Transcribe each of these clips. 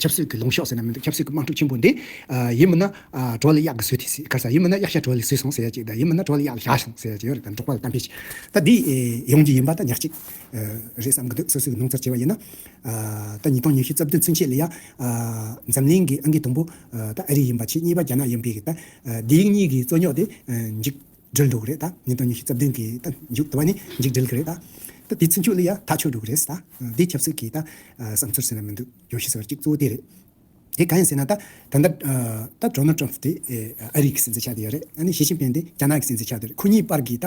ཆབ་སྲིད་ཀྱི་ལུང་ཤོག་ཟེར་ན་མི་འདུག་ཆབ་སྲིད་ཀྱི་དམངས་ཁྲོད་ཆེན་པོ་འདི། ཡིན་མིན་ན་གྲོགས་ལ་གཡག་གི་ཟོས་དེ་ཟིག་ག་ས་ཡིན་མིན་ན་གཡག་ཤ་གྲོགས་ལས་ཟོས་སོང་ཟེར་ཡ་ཅིག་ད་ཡིན་མིན་ན་གྲོགས་ལ་གཡག་ལ་ཞག་སོང་ཟེར་ཡ་ཅིག་ཡོད་རེད་ད་འབྲོག་པ་ལ་གཏམ་འཕེལ་ཞིག་ད་འདི་ཡོང་རྒྱུ་ཡིན་པ་ད་ཉག་ཅིག་རེད་བསམ་གི་འདུག་སོ་སོའི་སྣང་ཚར་བྱས་པ་ཡིན་ན། ད་ཉིས་སྟོང་ཉི་ཤུ་རྩ་བདུན་ཚུན་ཆད་ལ་ཡ། འཛམ་གླིང་གི་ཨ་འགས་དུམ་བུ་ད་ཨ་རི་ཡིན་པ་ཆེས་གཉིས་པ་རྒྱ་ནག་ཡིན་པས་ད་འདི་གཉིས་ཀྱི་རྩོད་རྙོག་དེ་འཇིགས། འགྲུལ་འགྲོ་གི་རེད་ད། ཉིན་སྟོང་ཉི་ཤུ་རྩ་བདུན་གྱི་ད་མཇུག་ཏུ་བ་ནི་འཇིག་འགྲིལ་གི་རེད་ད། ད་དེ་ཚུན་ཆུད་ལི་ཡ་ཐག་ཆོད་འགྲོ་གི་རེད་ཟེར་ད། དེའི་ཁྱབ་ཚུལ་གྱི་ད་བསམ་ཚུལ་ཟེར་ན་མི་འདུག་ཡོ་ཤི་ཟེར་བ་གཅིག་གཙོ་བོ་དེ་རེད། དེ་གང་ཡིན་ཟེར་ན་ད། ད་ལྟ་ད Donald Trump དེ་ཨ་རིག་གི་སྲིད་འཛིན་ཆགས་དེ་ཡོད་རེད། ཨ་ནི Xi Jinping དེ་རྒྱ་ནག་གི་སྲིད་འཛིན་ཆགས་དེ་རེད་ཁོ་གཉིས་བར་གྱི་ད།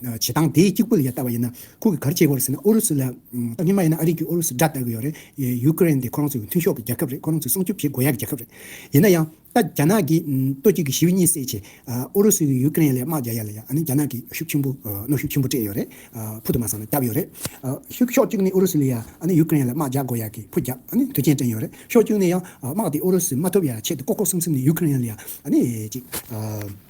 བྱེད་སྟངས་དེ་གཅིག་པུ་ལ་ཡང་ལྟ་བ་ཡིན་ན། ཁོང་གིས་ག་རེ་བྱེད་དགོས་རེད་ཟེར་ན་ཨུ་རུ་སུ་ལ་ཏང་ཉི་མ་ཡིན་ན་ཨ་རིག་གིས་ཨུ་རུ་སུ་དགྲ་ལྟ་གི་ཡོད་རེད། ཡུ་ཀེ་རེན་དེ་ཁོ་རང་ཚོའི་མཐུན་ཤོག་གི་རྒྱལ་ཁབ་རེད་ཁོ་རང་ཚོས་སྲུང་སྐྱོབ་བྱེད་དགོས་ཡ་གི་རྒྱལ་ཁབ་རེད། ཡིན་ན་ཡང། ད་རྒྱ་ནག་གིས་ལྟོ་གཅིག་གིས་ཞི་བའི་གཉིད་སད་ཆེད། ཨུ་རུ་སུས་ཡུ་ཀེ་རེན་ལ་དམག་རྒྱག་ཡ་ལ་ཡ་ཨ་ནི་རྒྱ་ནག་གིས་ཤུགས་ཆེན་པོ་གནོན་ཤུགས་ཆེན་པོ་སྤྲད་ཡོད་རེད། ཕུ་དུ་མ་སངས་ན་རྒྱབ་ཡོད་རེད། ཤུགས་ཕྱོགས་གཅིག་ནས་ཨུ་རུ་སུ་ལ་ཡ་ཨ་ནི་ཡུ་ཀེ་རེན་ལ་དམག་རྒྱག་དགོས་ཡ་གི་ཕུ་རྒྱག་ཨ་ནི་དུས་ཆེན་སྤྲད་ཡོད་རེད། ཕྱོགས་གཅིག་ནས་ཡང་དམག་དེ་ཨུ་རུ་སུས་མ་ཐུབ་ཡ་ཆེད་དུ་ལྐོག་ལྐོག་སིམ་སིམ་ནས་ཡུ་ཀེ་རེན་ལ་ཡ་ཨ་ནི་གཅིག།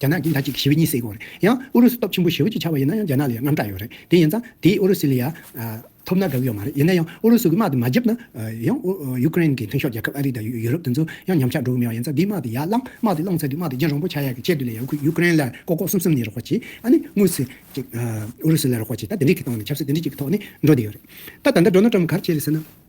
རྒྱ་ནག་གིས་ཟླ་གཅིག་གི་ཞི་བའི་གཉིད་སད་དགོས་རེད། ཡང་ཨུ་རུ་སུ་སྟོབས་ཆེན་པོ་ཞེ་བོ་གཅིག་ཆགས་པ་ཡིན་ན་ཡང་རྒྱ་ནག་ལ་ཡང་རྔམ་སྐྲག་ཡོད་རེད། དེ་ཡིན་ཙང་དེས་ཨུ་རུ་སུ་ལ་ཡང་ཐོབ་ན་དགའ་གི་ཡོད་མ་རེད། ཡིན་ན་ཡང་ཨུ་རུ་སུ་གི་དམག་དེ་མ་བརྒྱབ་ན། ཡང་ཡུ་ཀེ་རེན་གི་མཐུན་ཤོག་རྒྱལ་ཁབ་ཨ་རི་དང་ཡུ་རོབ་དེ་ཚོ་ཡང་ཉམས་ཆག་འགྲོ་གི་མེད་པ་ཡིན་ཙང་དེའི་དམག་དེ་ཡར་བསླངས། དམག་དེ་བསླངས་ཚར་དུས་དམག་དེ་རྒྱན་རོང་པོ་ཆགས་ཡག་གི་ཆེད་དུ་ལས་ཡང་ཁུལ་ཡུ་ཀེ་རེན་ལ་ཀོ་ཀོ་གསུམ་གསུམ་ནས་རོགས་སྐོར་བྱེད། ཨ་ནི་དངོས་སུ་ཨུ་རུ་སུ་ལ་རོགས་སྐོར་བྱེད། ད་དེ་འདྲའི་གི་སྟངས་ནས་ཆབ་སྲིད་དེ་འདྲའི་གཅིག་གི་ཐོག་ནས་འགྲོ་བསྡད་ཡོད་རེད། ད་ད་ལྟ་འགྲོ་ན་ཀྲམ་གར་བྱེད་རེད་ཟེར་ན།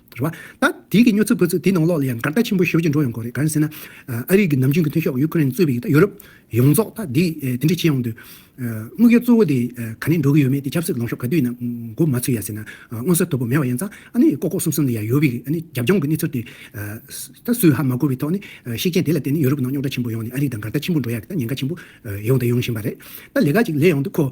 རེད་བ། ད་དུས་ཀྱི་སྨྱོ་རྩུབ་དགོད་རྩུབ་དེའི་ནང་ལོགས་ལ་ཡང་འགར་ལྟ་ཆེན་པོ་ཞོར་གྱིས་འགྲོ་ཡོང་དགོས་རེད་ག་རེ་ཟེར་ན། ཨ་རིག་གི་ནམ་རྒྱུན་གྱི་མཐུན་ཤོག་ཡུ་ཀེ་རེན་གཙོས་པའི་ཡུ་ཏ་ཡོ་རོབ་ཡོངས་རྫོགས་ད་དུས་དེ་འདྲས་བྱེད་ཡོང་དུས། དངུལ་སྐལ་གཙོ་བོ་དེ་ག་ནས་འགྲོ་གི་ཡོད་མེད་དེ་ཆབ་སྲིད་ལོངས་ཤོག་ག་དུས་ནང་མགོ་མ་ཚུད་ཡ་ཟེར་ན་མངོན་གསལ་དོད་པོ་མེད་བ་ཡན་ཙང་ཨ་ནི་ལྐོག་ལྐོག་སུམ་སུམ་ལ་ཡ་ཡོ་བི་གི་ཨ་ནི་རྒྱབ་ལྗོངས་ཀྱི་གནས་ཚུལ་དེ་ད་སུས་ཧ་མ་གོ་བི་ཐོག་ནས་ཤེས་མཁན་དེ་ལ་བརྟེན་ནས་ཡོ་རོབ་ནང་རྙོག་དྲ་ཆེན་པོ་ཡོང་ནས་ཨ་རིག་ད་འགར་ལྟ་ཆེན་པོ་འགྲོ་ཡ་གི་ད་ཉེན་ཁ་ཆེན་པོ་ཡོང་དང་ཡོང་བཞིན་བ་རེད། ད་ལས་ཀ་ཅིག་ལས་ཡོང་དུས་ཁོ།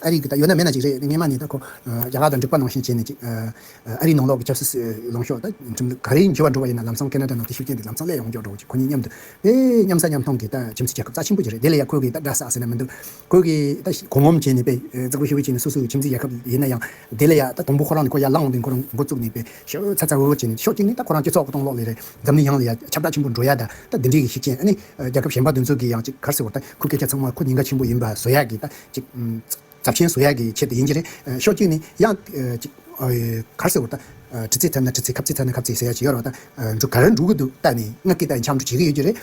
ཨ་རིག་གིས་ད་ཡོད་ན་མེད་ན་ཅིག་རེད་སྙེ་མ་ནས་ད་ཁོ་རྒྱ་གར་དང་འབྲུག་པ་ནང་བཞིན་བྱས་ནས་ཅིག་ཨ་རིའི་ནང་ལོག་གི་ཆབ་སྲིད་ལོངས་ཤོག་ད་ཁྱིམ་ཚ་ག་རེའི་འགྱུར་བ་འགྲོ་བ་ཡིན་ན་ལམ་སང་ཀེ་ན་ཏྲ་ནང་དེ་ཤུགས་རྐྱེན་དེ་ལམ་སང་སླད་ཡོང་མགྱོགས་འགྲོ་གི་ཁོ་གཉིས་མཉམ་དུ་དེ་མཉམ་ཟ་མཉམ་འཐུང་གི་ད་ཁྱིམ་མཚེས་རྒྱལ་ཁབ་རྩ་ཆེན་པོ་ཅིག་རེད་དེ་ལ་ཡང་ཁོས་གིས་ད་འདྲ་ཟ་ཟེར་ན་མི་འདུག་ཁོས་གིས་ད་གོ་ངོམ་བྱས་ནས་པེ་ཙི་ཀོ་ཤི་བོ་བྱས་ནས་སོ་སོའི་ཁྱིམ་མཚེས་རྒྱལ་ཁབ་ཡིན་ན་ཡང་དེ་ལ་ཡང་ད་དང་པོ་ཁོ་རང་ནས་ཁོ་ཡར་ལངས་འོང་དུས་ཁོ་རང་མགོ་བཙུགས་ནས་པེ་ཤོ་ཚ་ཚ་འུར་འུར་བྱས་ནས་ཤོག་ཅིག་ནས་ད་ཁོ་རང་སྤྱི་ཚོགས་གཏོང་ལོག་ལེ་རེད་འཛམ་གླིང་ཡང་ལ་ཡང་ཁྱབ་བསྒྲགས་ཆེན་པོ་འགྲོ་ཡ་ད་ད་འདི་འདྲིའི་གི་ཤིག་རྐྱེན་ཨ་ནི་རྒྱལ་ཁབ་གཞན་པ་འདི་ཚོ་གིས་ཡང་ཅིག་གར་སེ་བོར་ད་ཁོའི་སྐད་ཆ་ཚང་མ་ཁོ་ཉིན་ག་ཆེན་པོ་ཡིན་པ་བཟོ་ཡ་གི་ད་རྫབ་ཆེན་བཟོ་ཡག་གི་ཆེད་དུ་ཡིན་གྱི་རེད། ཤོག་གྱིས་ནི་ཡང། གར་ཟེར་བ་ད། གྲི་རྩེ་ཐབ་ན་གྲི་རྩེ་ཁབ་རྩེ་ཐབ་ན་ཁབ་རྩེ་ཟེར་ཡག་ཅིག་ཡོད་རེད་བ་ད། གར་འབྲུག་གི་དུ་བཏགས་ནས་སྔགས་ཀྱི་བཏགས་ནས་འཆམ་འབྲུག་བྱེད་ཀྱི་ཡོད་ཀྱི་རེད།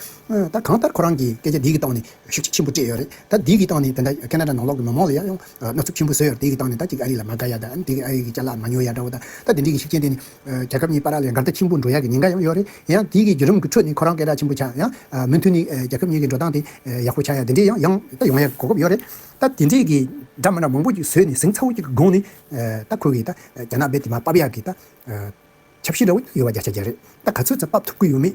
ད་གང་ལྟར་ཁོ་རང་གིས་སྐད་ཆ་འདི་གི་སྟངས་ནས་ཤུགས་ཆེན་པོ་སྤྲད་ཡོད་རེད། ད་འདི་གི་སྟངས་ནས་དེ་འདྲ་ཀ་ན་ར་ནང་ལོག་གི་མི་མང་ལ་ཡང་ཡང་ནོར་འཚུབ་ཆེན་པོ་བཟོས་ཡོད་རེད་དེ་གི་སྟངས་ནས་ད་ཅིག་ཨ་རི་ལ་མ་དགའ་ཡག་ད་ཨ་རི་གི་ལྕགས་ལ་མ་ཉོ་ཡག་འདྲ་བོ་ད། ད་དེ་འདྲིའི་གི་ཤུགས་ཆེན་དེ་ནི། རྒྱལ་ཁབ་གཉིས་བར་ལས་འགལ་ཟླ་ཆེན་པོ་འགྲོ་ཡག་གི་ཉེན་ཁ་ཡང་ཡོད་རེད་ཡིན་ཡང་དེའི་གི་བརྒྱུད་རིམ་གི་ཁྲོད་ནས་ཁོ་རང་སྐད་གྲགས་ཆེན་པོ་ཆགས་ཡང། མོན་ཐུ་ནི་རྒྱལ་ཁབ་གཉིས་གི་འགྲོ་སྟངས་དེ་ཡག་པོ་ཆགས་ཡག་དེ་འདྲས་ཡང་ཡང་ད་ཡོང་ཡག་གོ་སྐབས་ཡོད་རེད་ད། དེ་འདྲས་གི་འདྲ་མ་འདྲ་མང་པོ་ཅིག་བཟོས་ནས་ཟིང་ཚ་བོ་ཅིག་གི་སྒང་ནས་ད་ཁོ་གིས་ད་རྒྱ་ནག་པའི་དེ་མ་དཔབ་ཡག་གི་ད། ཆབ་སྲིད་འདྲ་བོ་ཅིག་ཡོད་པ་རྒྱ་ཆ་རྒྱ་རེད་ད་ག་ཚོད་ཙམ་དཔབ་ཐུབ་ཀི་ཡོད་མེད་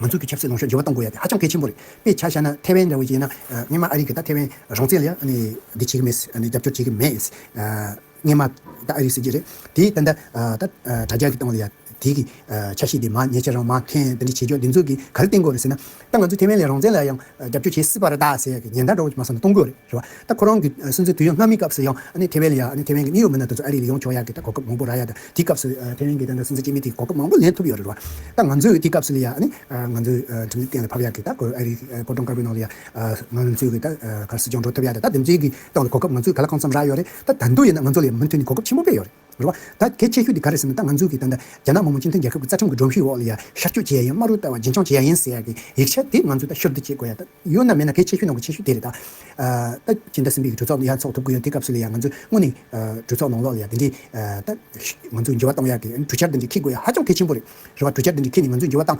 ང་ཚོ་གི་ཆབ་སྲིད་ལོངས་ཤོག་འགྱུར་བ་གཏོང་དགོས་ཡ་དེ་ཧ་ཅང་གལ་ཆེན་པོ་རེད་དཔེ་ཆ་བཞག་ན་ཐེ་ཝན་འདྲ་བོ་ཞིག་ཡིན་ན་མཉན་མ་ཨ་རིག་གི་ད་ཐེ་ཝན་རང་བཙན་ལ་ཡང་འདི་བྱེད་གི་མེད་རྒྱབ་སྐྱོར་བྱེད་གི་མེད་མཉན་མ་ད་ཨ་རིག་སྲིད་འཛིན་རེད་དེ་ད་ད་དྲ་རྒྱ་གི་སྟེང་ལ་ཡ་དེ་གི་ཆ་ཤེས་དེ་མ་ཉེས་ཆ་རང་མ་འཐེན་ད་འདི་བྱེད་ཆོག་འདི་འཛུགས་གི་ག་རེ་བཏིང་དགོས་རེད་ཟེར་ན་ད་ང་ཚོ་ཐེ་ཝན་ལ་རང་བཙན་ལ་ཡང་རྒྱབ་སྐྱོར་བྱེད་སྲིད་པ་རེད་ད་ཟེར་ཡ་གི་ཉེན་བརྡ་འགྲོ་བ་ཞིག་མ་སོང་ན་གཏོང་དགོས་རེད་རེད་བ། ད་ཁོ་རང་གི་སྲིད་འཛིན་དུས་ཡུན་སྔ་མའི་སྐབས་སུ་ཡང་ཨ་ཐེ་ཝེ་ལི་ཡ་ཨ་ཐེ་ཝེན་གྱི་གནས་ཡུལ་མི་སྣ་དེ་ཚོ་ཨ་རི་ལ་ཡོང་ཆོག་ཡ་གི་ད་གོ་སྐབས་མང་པོ་རག་ཡ་ད་དེའི་སྐབས་སུ་ཨ་ཐེ་ཝེན་གྱི་ད་སྲིད་འཛིན་སྤྱི་མི་དེ་གོ་སྐབས་མང་པོ་ལེན་ཐུབ་ཡོད་རེད་རེད་བ། ད་ང་ཚོས་དེའི་སྐབས་སུ་ལི་ཡ་ཨ་ང་ཚོའི་ཁྲིམས་ལུགས་གཏན་ལ་ཕབ་ཡ་གི་ད་གོ་ཨ་རི་གོ་གྲོང་དཀར་པོའི་ནང་ལི་ཡ་ཨ་ང་ཚོས་གི་ད་གར་སྲིད་སྐྱོང་འགྲོ་ཐུབ་ཡ་ད་ད་དེ་འཛིན་གི་སྟངས་ལ་གོ་སྐབས་ང་ཚོས་ག་ལ་གང་འཚམས་རག་ཡོད་རེད་ད་ད་འདུག་ཡིན་ན་ང་ཚོ་ལི་ཡ་མུ་མཐུད་ནས་གོ་སྐབས་ཆེན་པོ་སྤེལ་ཡོད་རེད། རེད་བ། ད་གལ་ཆེ་ཤོས་དེ་ག་རེད་ཟེར་ན་ད་ང་ཚོ་གིས་ད་ལྟ་རྒྱ་ནག་མང་མོ་སྤྱི་མཐུན་རྒྱལ་ཁབ་ཀྱི་རྩ་ཁྲིམས་ཀྱི་སྒྲོམ་གཞིའི་འོག་ལ་ཡ་ཤར་སྐྱོད་བྱེད་ཡ་ཡིན་སྨྲ་རུལ་ལྟ་བ་རྒྱུན་འཁྱོངས་བྱེད་ཡ་ཡིན་ཟེར་ཡག་གི་ཡིག་ཆ་དེ་ང་ཚོས་ད་ཤོར་དུ་བྱེད་དགོས་ཡ་ད་ཡོད་ན་མེད་ན་གལ་ཆེ་ཤོས་ནང་གི་ཆེ་ཤོས་དེ་རེད་ད། ད་སྤྱི་ཟླ་གསུམ་པའི་གྲོས་ཚོགས་ཡ་འཚོགས་ཐུབ་གི་ཡོད་དེ་སྐབས་སུ་ལ་ཡ་ང་ཚོས་དངོས་ནས་གྲོས་ཚོགས་ནང་ལོགས་ལ་ཡ་དེ་འདྲའི་ད་ང་ཚོ་འགྱུར་བ་གཏོང་ཡ་གི་གྲོས་འཆར་དེ་འདྲ་འཁྱེར་དགོས་ཡ་ཧ་ཅང་གལ་ཆེན་པོ་རེད། རེ་བ་གྲུ་ཆར་ལྡིང་གི་ཁྱེད་ནི་ང་ཚོའི་འགྱུར་བ་བཏང།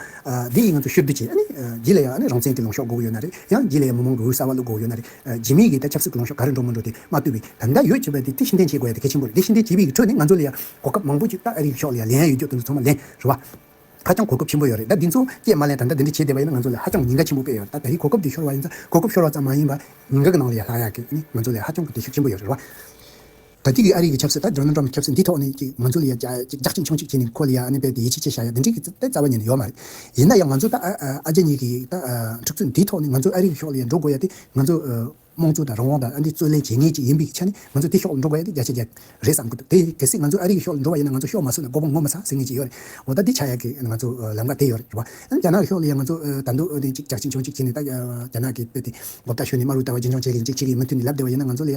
འདི་ཡིས་ང་ཚོ་ཤུལ་བསྡུ་བྱེད། བརྗིད་ལ་ཡང་རང་བཙན་གྱི་ལོང་ཤོག་འགུག་ཡོད་ན་རེད། ཡང་བརྗིད་ལ་ཡང་མི་མང་གི་འོད་གསལ་བ་བླུག་འགུག་ཡོད་ན་རེད། བརྗིད་མེད་ཀྱི་ད་ཆབ་སྲིད་ཀྱི་ལོང་ཤོག་ག་རེ་འགྲོ་མི་འགྲོ་དེ་མ་བསྟུད་པའི་ད་ལྟ་ཡོད་བྱེད་པ་དེ་དེ་ཤེས་ལྡན་བྱེད་དགོས་ཡ་དེ་གལ་ཆེན་པོ་རེད་དེ་ཤེས་ལྡན་བྱེད་པའི་ཁྲོད་ནས་ང་ཚོ་ལ་ཡང་གོ་སྐབས་མང་པོ་ཅིག་ཏག་ཨ་རིའི་ཤོག་ལ་ཡང་ལན་ཡང་ཡོད་རྒྱུ་དེ་ཚོ་ཚང་མ་ལན་རེད་བ། ཧ་ཅང་གོ་སྐབས་ཆེན་པོ་ཡོད་རེད་ད་འདི་ཚོ་སྐྱེས་མ་ལན་ད་ལྟ་འདི་འདྲ་བྱེད་བསྡད་པ་ཡིན་ན་ང་ཚོ་ལ་ཧ་ཅང་ཉེན་ཁ་ཆེན་པོ་དཔེ་ཡོད་རེད་ད་ད་རེས་གོ་སྐབས་འདི་ཤོར་བ་ཡིན་ཙང་གོ་སྐབས་ཤོར་བ་ཙམ་མ་ཡིན་པ་ཉེན་ཁ་གི་ནང་ལ་ཡང་ལྷག་ཡག་གི་ང་ཚོ་ལ་ཧ་ཅང་གི་འདི་ཤུགས་ཆེན་པོ་ཡོད་རེད་བ། ད་ཐིག་གིས་ཨ་རི་གི་ཆབ་སྲིད་དང་ཇོ་ནང་ཏྲོམ་གྱི་ཆབ་སྲིད་འདི་ཐོག་ནས་ཀྱི་ང་ཚོ་ལ་ཡ་ཅིག་ཅག་ཅིག་མཆོང་ཤིག་བྱས་ནས་ཁོ་ལ་ཡ་ཨ་ནི་བལ་གྱི་ཡེ་ཆེ་ཆེ་བཞག་ཡ་འདི་འགྲིག་གི་ཙི་ཏའི་རྩ་བ་ཉན་ནི་ཡོད་མ་རེད། ཡིན་ན་ཡང་ང་ཚོ་ད་ཨ་རྒྱ་གཉིས་ཀྱི་ད་འཁྲུག་རྩོད་འདི་ཐོག་ནས་ང་ཚོ་ཨ་རི་གི་ཤོག་ལ་ཡ་འགྲོ་དགོས་ཡ་དེ་ང་ཚོ་དམངས་གཙོ་དང་རང་དབང་དང་ཨ་འདི་རྩོད་ལེན་བྱེད་ངེས་ཅིག་ཡིན་པའི་ཆ་ནས་ང་ཚོ་དེ་ཤོག་ལ་འགྲོ་དགོས་ཡ་དེ་རྒྱ་ཆེ་རྒྱ་རེད་བསམ་དགོས་འདུག་དེ་གལ་སྲིད་ང་ཚོ་ཨ་རི་གི་ཤོག་ལ་འགྲོ་བ་ཡིན་ན་ང་ཚོ་ཤོག་མ་སྲུ་ལ་མགོ་བོ་ངོ་མ་ས་ཟེར་ངེས་ཅིག་ཡོད་རེད་འོ་ད་འདི་ཆ་ཡ་གི་ང་ཚོ་ལམ་ཀ་དེ་ཡོད་རེད་ཨ་རྒྱ་ནག་གི་ཤོག་ལ་ཡ་ང་ཚོ་ད་འདུག་ཨ་ནི་ཅིག་ཅག་ཅིག་མཆོང་ཤིག་བྱས་ནས་ད་རྒྱ་ནག་གི་དཔེ་དེ་མགོ་བཏགས་ཤོད་ནས་དམའ་རུ་བཏགས་བ་རྒྱུན་འཁྱོངས་བྱེད་གི་ཡིན་ཅིག་བྱེད་གི་ཡིན་མུ་མཐུད་ནས་ལབ་བདེ་བ་ཡིན་ན་ང་ཚོ་ལ་ཡ